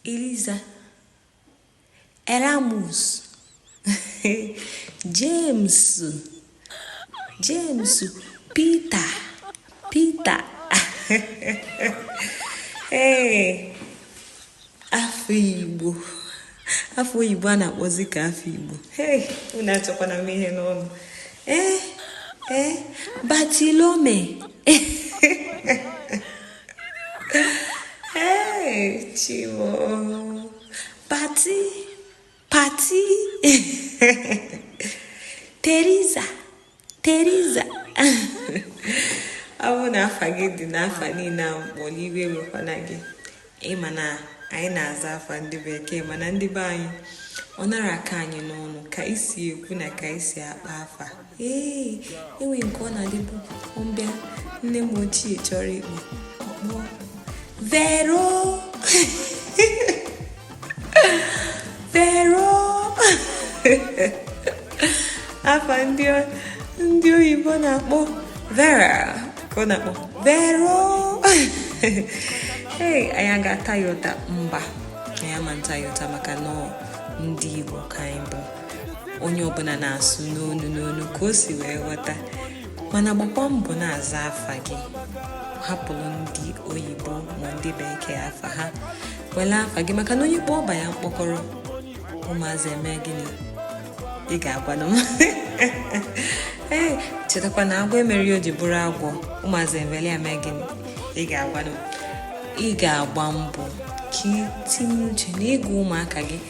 Eliza Eramus James James Pita Pita ee afa Igbo afa oyibo a na-akpọzi ka afa Igbo ee unu achọkwana m ihe n'ọnụ ee ee Batilome Hey, Timo. Pati, Pati. Teresa, Teresa. ọ bụrụ na afa gị dị n'afa niile a m kpọrọ iwe wekwana gị ị ma na anyị na-aza afa ndị bekee mana ndị be anyị ọ na-araka anyị n'ọnụ ka i si ekwu na ka i si akpọ afa ee e nwe nke ọ na-adịbụ mgbe nne m ochie chọrọ ịkpọ ọ kpọọ vero vero afa ndị ndị oyibo na-akpọ vera ka ọ na-akpọ vero ee anyị ga-ata ya ụta mba anyị ama nta ya ụta maka na ndị igbo ka anyị bụ onye ọbụla na-asụ n'onu n'onu ka o si wee ghọta mana gbakwa mbọ na-aza afa gị hapụrụ ndị oyibo ma ndị bekee afa ha wele afa gị maka na onye kpọọ ọba ya mkpọkọrọ ụmụazị eme gịnị ị ga-agwanụ m ee chetakwa na agwọ emerọ ihe o ji bụrụ agwọ ụmụazị ewele ya mee gịnị ị ga-agwanụ m ị ga-agba mbọ ka i tinye uche na ịgụ ụmụaka gị